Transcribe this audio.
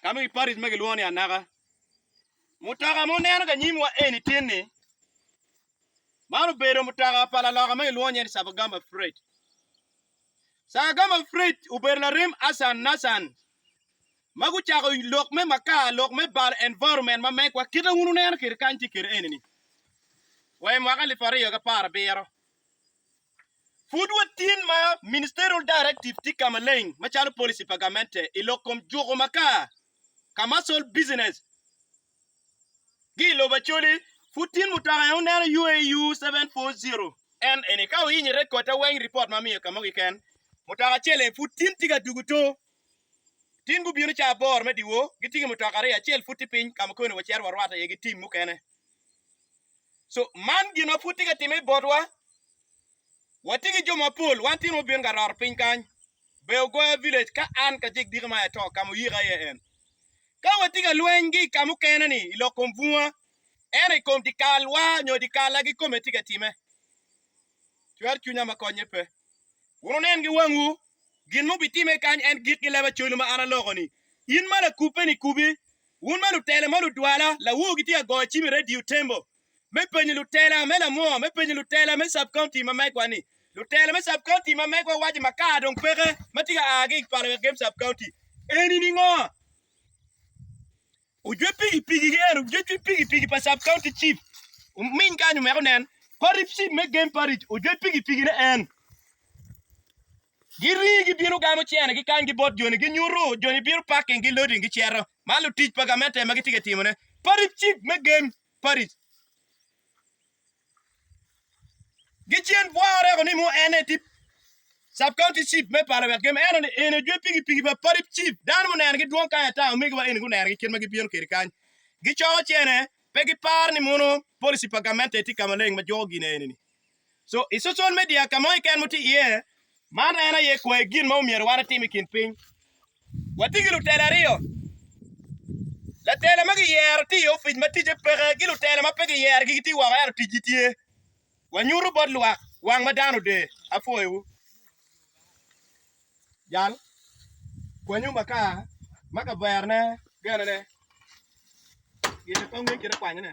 ka nongo i Paris ma gilwongo ni Anaka. Mutoka ma oneno ka nyimwa eni tin-ni, man obedo mutoka pa laloka ma gilwongo nyinge ni Sabagamba Freight. Sabagamba Freight obedo larem Hassan Nassan ma gucako lok me makar, lok me balo environment ma megwa kite wun wuneno kwede kany tye kwede eni-ni wa i mwaka alip aryo ki apar abiro. Pud watyen ma Ministerial Directive tye ka maleng macalo policy pa gamente i lok kom juko makar. Commercial business gi i lobo Acholi pud tyen mutoka en oneno UAU 740. En eni ka oyinyo i rekotta weng report ma miyo kamo kiken mutoka acel en pud tyen tye ka dugo to. Tyen gubino ca aboro me diwo gitye ki mutoka aryo acel pud tye piny ka mukene wacito warwata iye gi team mukene. So, man gin ma pud tye ka timme botwa. Watye ki jo mapol, wan tino mubino ka raro piny kany, Beyo Goya Village, ka an kacel diki ma ato ka ma oyika iye en. Ka watye ka lweny ki i ka mukene-ni i lok kom bunga, ento i kom dyekal-wa nyo dyekal-la kikome tye ka timme, cwer cwinya ma konye pe. Wun wunen ki wangwu gin ma obitimme kany, en gik ki leba colu ma an aloko-ni. In ma lakubbe-ni, kubi! Wun ma lutela ma ludwala, lawu gitye ka goyo cim i Radio Tembo me penyo lutela me lamwoo me penyo lutela me Sub-County ma megwa ni, Lutela me Sub-County ma megwa waco makar dong peke ma tye ka aa ki i pala wek gem Sub-County eni ningo? Ojwe pikipiki gi eno, ojwe pikipiki pa Sub-County Chief ominy kany omeko nen, Parip Chief me Game Parish ojwe pikipiki ne en. Girii gibino gamo cene gikangi bot joni ginyutu, joni bino parking gi loading giceto ma lutic pa gamente ma gitye ka timone paric cik me game paric. Gicen bwa oreko ni mo ene tip Sub County Chief me pala wek game eno ni eni ojwe pigi pigi pa paric cif dano muneno gi dwong kany ata omege wa eni guneno gi kit ma gibino kedi kany gicoko cene pe giparo ni mono policy pa gamente tye kamaleng ma juko gine eni ni. So, i social media ka mo keken mutye iye, man en aye kwayo gin ma omyero wan etim i kin piny. Watye ki lutela aryo. Latela ma giyero tye i ofic ma ticce peke ki lutela ma pe giyero gi gitye woko ento ticgi tye. Wanyuto bot lwak wang ma dano oder. Apwoyowu. Jal kwanyo makar ma kaverone genene. Gire kong ngec kite kwanyone.